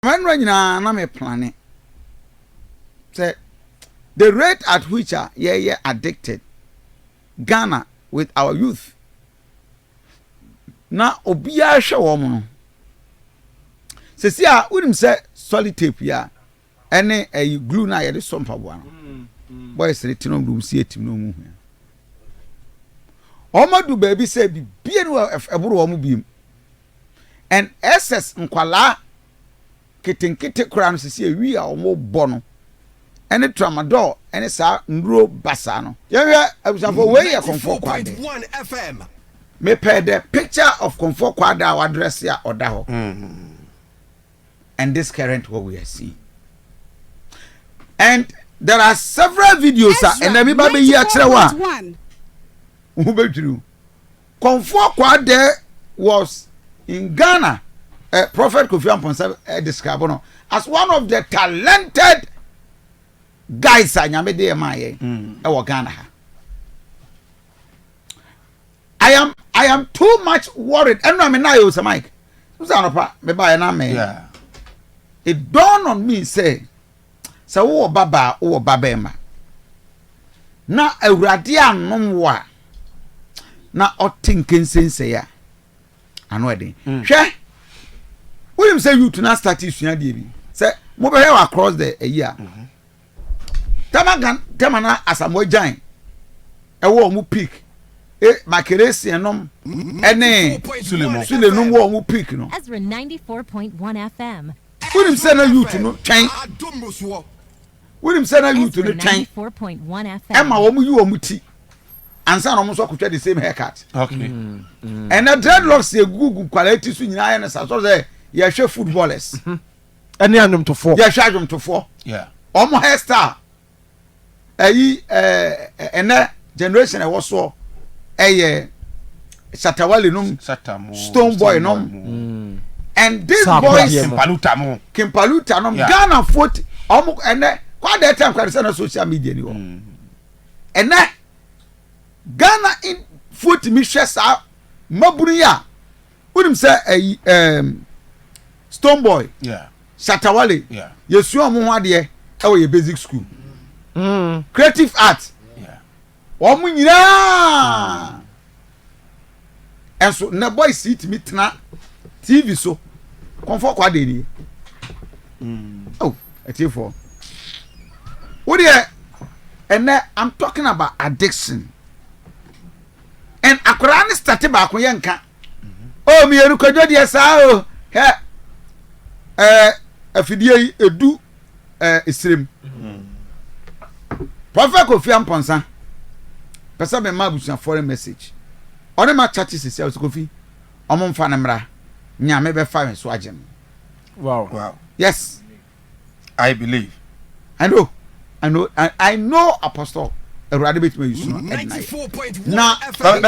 Mmerɛ nyinaa na me plane sɛ the rate at which a yɛyɛ addicted Ghana with our youth na obiara hwɛ wɔn no sɛsi a wonim sɛ solid tape yi a ɛne ɛyi glue no a yɛde sɔ mpaboa no bɔyɛ sɛ ti nom de wɔn si atim na wɔn hua wɔn adu baabi sɛ bibie no ɛboro wɔn biem. NSS nkwadaa nketenkete koraa no sisi awi a wɔbɔ no ne tramadol ne saa nnuro basaa no. Yɛnhwɛ abusuafo wei yɛ Komfoɔ Kwaade. Mepɛ the picture of Komfoɔ Kwaade a wadrɛse a ɔda hɔ and this current what we are seeing and there are several videos a ɛnna mi ba bɛyi akyerɛ wo a wo ho bɛdwiriw. Komfoɔ Kwadare was in Ghana, eh, Prophet Kofi Amponsah eh, describe no as one of the talented guys a nyame de ɛmaa yɛn mm. ɛwɔ Ghana ha. I am I am too much worried. Ɛnu ame naa yɛ osɛ Mike. N sɛ anɔpa mɛ ba yɛ naa mɛ. It dawned on me say. Sɛ wowɔ babaa, wowɔ babarima, na Awurade annom wo a, na ɔte nkensensɛe a, ano ɛden. Mm. Hwɛ, wonim sɛ youth na start sua deɛ bi sɛ mobɛhwɛ wɔ across the ayi a mhm. tɛma gan tɛma na asamoa gyan ɛwɔ ɔmo peak e makeresian nom ɛne sulenom wɔ ɔmo peak no. Wonim sɛ na youth no twɛn. Wonim sɛ na youth no twɛn. Ɛma wɔn yi wɔn ti. Ansa na wɔn nso akotwa the same haircut. Mm, mm. Ɛnna dreadlocks yɛ gugu nkwadaa ti so nyinaa yɛ ne sa sɔrɔ sɛ yɛhwɛ footballers. Ɛne adwomtofoɔ. Yɛhwɛ adwomtofoɔ. Wɔn hairstyle. ɛyi ɛɛ ɛnɛ generation ɛwɔ soɔ ɛyɛ shatawale nom stone boy nom mm. and these boys kimpaluta mo kimpaluta nom ghana foot ɔmo ɛnɛ kɔ adɛ tɛ nkwa de sɛ na social media ni hɔ mm. ɛnɛ ghana foot mi hwɛ saa mmabunu yi a. wonim sɛ ɛyi ɛɛm stone boy shatawale yɛsua wɔn ho adeɛ ɛwɔ yɛ basic school mm. creative art wɔn nyinaa ɛnso na boys yi tumi tena tv so kɔnfɔ kɔ adeɛ nie ɛwɔ ɛtiefo wo deɛ ɛnɛ i'm talking about addiction. and akwadaa no starte baako yɛ nka o oh, mmienu kwadwo deɛ saa o oh, hɛ ɛɛ eh, afidie yi edu ɛɛ eh, esirem prɔfɛ kofi ampɔnsa pɛsɛ mi ma abusua foreign message ɔne ma kyakye sisi ɛwɔ kofi ɔmo nfa ne mmra nyame bɛfa yɛn so agye no wow yes. I believe. I know. I know. I, I know apostle. Awurade bɛtumi ayi sunu ɛdina yɛ. Na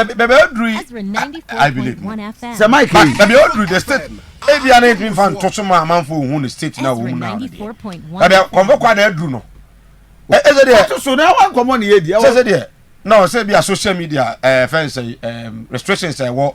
bɛbɛ aduru yi. I believe. Sɛ Mike yi. Bɛbɛ aduru the state. Ebi a na ebi nfa nto so ma amanfo ohun the state na wɔn mu na wɔn deɛ. Bɛbɛ kɔnfɔ kɔ a na aduru no. Ɛsɛ deɛ. Ɛsɛ so na wɔn nkɔmɔ ni yɛ di. Ɛsɛ deɛ. Na ɔsɛ bi a social media ɛɛ fɛn sɛ ɛɛ restrictions ɛwɔ.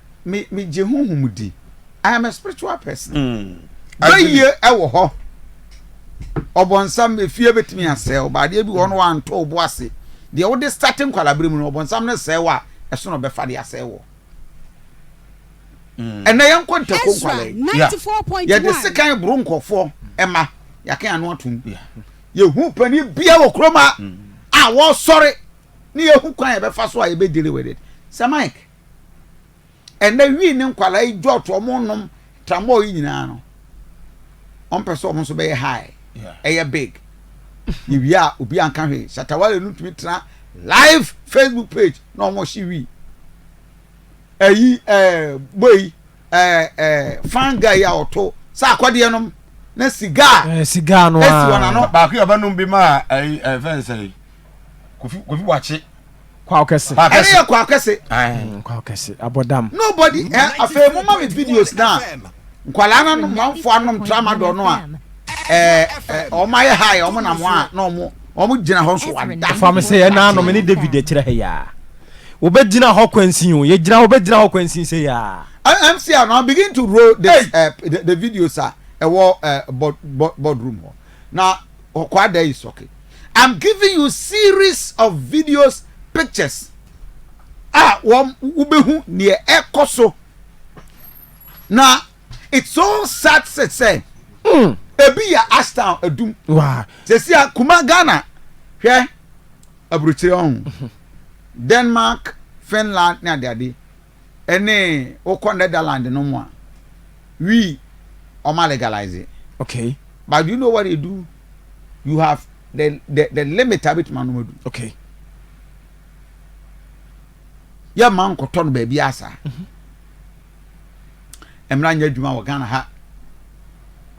me me gye honhom di i am a spiritual person mm. bɛyie ɛwɔ hɔ ɔbɔnsam efie bɛtumi asɛe ɔba adeɛ bi wɔ no wantɔ ɔbo ase deɛ wode starte nkwalabere mu no ɔbɔnsam no sɛe wɔ a ɛsono ɔbɛfa de asɛe wɔ mm. ɛnɛ yɛnkɔ ntako nkwalɛ yɛde sekan boro nkɔfoɔ ɛma yɛaka yɛn ano atom yɛhu panin bia wɔ kurom a mm. a wɔsɔre ne yɛhu kwan yɛbɛfa so a yɛbɛdele wɔ de sɛ mike ɛnɛ wii ne nkwadaa yi jɔt wɔn nom tramɔl yi nyinaa no wɔn pɛ sɛ wɔn nso bɛyɛ high ɛyɛ big yɛ wia a obi anka hwee shatawale no tumi tena live facebook page na wɔn hye wii ɛyi ɛɛ bɔ yi. ɛɛ ɛɛ fungi a ɔto sɛ akɔdeɛ nom na sigaa. Ɛɛ eh, sigaa no aa. Esi wɔn ano. Baako yɛ ɔbɛnum bi maa ɛyi eh, ɛfɛn eh, sɛ kofi kofi wakye. Kwaw kɛse. Ɛne yɛ kwaw kɛse. Mm, kwaw kɛse abɔdam. Nobody ɛ afei mo ma mi videos na nkwadaa no nom wɔn fo anom tramadol no a ɛɛ ɛɛ wɔn ayɛ ha yɛ wɔn nam wɔn a na wɔn wɔn gyina hɔ nso wada. Fam sɛ ɛna anom ne David akyerɛ ha yaa. Wobɛgyina hɔ kwansin o, yɛgyina hɔ, wobɛgyina hɔ kwansin sei ara. MC a now begin to roll this uh, the, the videos a ɛwɔ uh, board, board, boardroom hɔ na ɔkwa da yi sɔke I'm giving you series of videos pictures a wɔn wobɛhu neɛ ɛkɔ so na it's so sad sɛ sɛ mm. ebi yɛ astown adum sɛsi a kuma ghana hwɛ aburokyire ɔho mhm. denmark finland ne adeade ɛne wokɔ netherland no mu a we ɔma legalize okay but you know what they do you have the the the limit a bɛtumi anom adu okay yɛ ma nkɔtɔ no baabi asa. Mm -hmm. mmara nyɛ adwuma wɔ ghana ha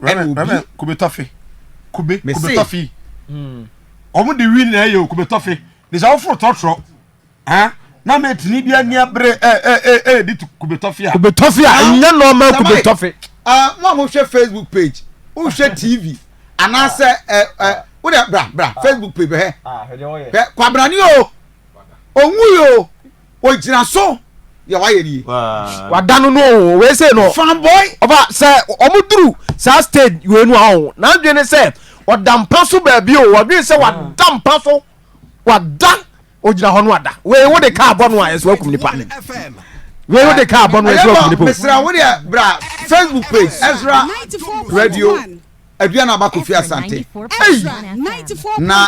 rɛbɛ kube tɔfe kube kube tɔfe hmm. wɔn de wi na ɛyɛ kube tɔfe de sɛ woforo tɔtrɔ ɛn na mɛ tini bi ani abere ɛ ɛ ɛ ɛ de kube tɔfe a kube tɔfe a ɛnyɛ nɔɔma kube tɔfe. mo a mo hwɛ facebook page o hwɛ tv anaasɛ ɛ ɛ o de bra bra facebook page bɛ hɛ hɛ kwabrani o òun yìí o. Ogyina so deɛ wayɛ nie. wada no no o wei sei no fanboy ɔfa sɛ ɔmo duru saa stage wei no a ɔho n'adwene ne sɛ ɔda mpa so baabi o ɔdwene sɛ wada mpa so wada ogyina hɔ no wada wei wo de kaa bɔ no a ɛso akum nipa wei wo de kaa bɔ no ɛso akum nipa mesra wo deɛ bra facebook page ɛsra radio aduane abakɔ fi asante na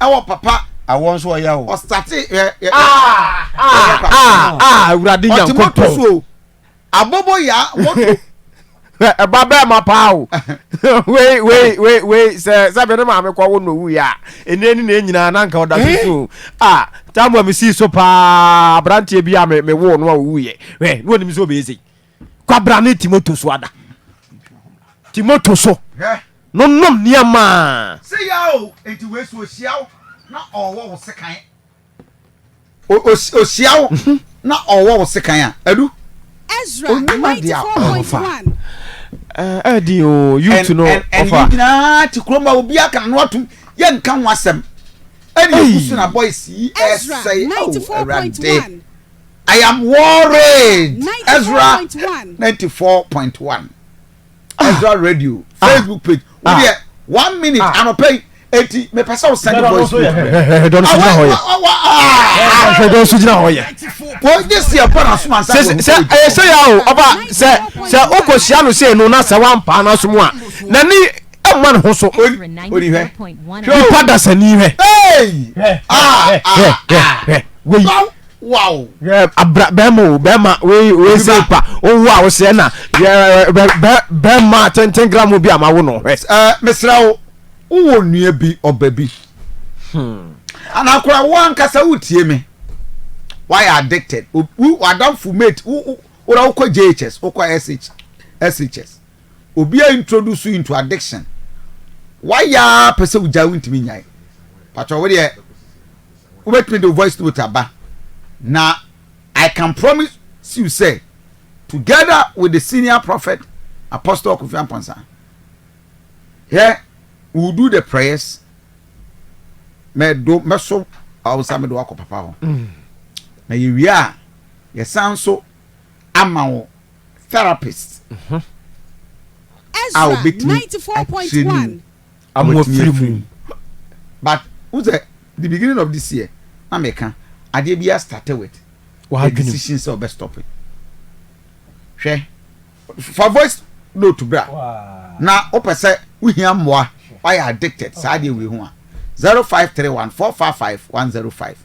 ɛwɔ papa. Awɔ nso ɔyɛ o. Ɔsate yɛ yɛ. Ah ah ah ah awurade nyankopɔn. Ɔte moto so o. Abobo ya moto. Ɛba bɛɛ ma paa o. Wei wei wei wei sɛ sɛ bɛ ne maame kɔ wo na owu ya. Ɛnɛ ni na enyinaa na nka ɔda so so. Ah tamu a mi sii so paa aberanteɛ bi a mi mi wo no a owu yɛ. Wɛ ne wɔn nim sɛ ɔbɛyɛ sɛ. kwabra ne timoto so ada timoto so no nom nneɛma a se ya o enti wei so ohyia wo na ɔwɔ wo sekan ohyia wo mhm. na ɔwɔ wo sekan a adu Ezra 94.1 ɛdi eh, eh, o youth no ɔfa ɛni nyinaa ti kurom a obi aka no atum yɛ nka ho asɛm ɛni ekusu na boys yi ɛsɛe awo ɛwurade. I am worried. Ezra ninety four point one. Ah. Ezra radio ah. Facebook page. Wo ah. deɛ one minute anɔpɛ yi eti mepɛ sɛ o send voice note bɛ. dɔn so gyina hɔ yɛ. hwɛ dɔn so gyina hɔ yɛ. o nye si ɛbɔ na suma nsa. sɛ sɛ ɛyɛ sɛ ya o ɔba sɛ sɛ o kò si ano se no na sɛ wa mpa na so mu a na ni ɛmma ne ho so nipa dasani hɛ. wei. wow yɛ abra bɛrima o bɛrima wei wei se pa owu a wosɛ na yɛ bɛ bɛ bɛrima tenten gramu bi a ma wo no hwɛ. ɛɛ mesra wo wowɔ nua bi ɔba bi hmm. anakora wo ankasa wotie me wayɛ addicted wo wadamfo mate wo wora wokɔ jhs wokɔ sh shs Obi a introduce wo into addiction wayɛ a pɛ sɛ wogyae wontumi nyae patwɔ wo deɛ wobɛtumi de wo voice note aba na I can promise you sɛ together with the senior prophet apostle Kofi Amponsah hɛ we will do the prayers mɛdo mɛso awonsa mɛdo wakɔ papa hɔ na yɛwie a yɛsan so ama wo therapist a obetumi akyerɛ ne mu ama watumi afiri mu but wo sɛ the beginning of this year na meka adeɛ bi a start with the decision sɛ ɔbɛ stop hwɛ fa voice note bra na wopɛ sɛ wohia mmoa wayɛ addicted saa adeɛ wei ho a 0531 455 105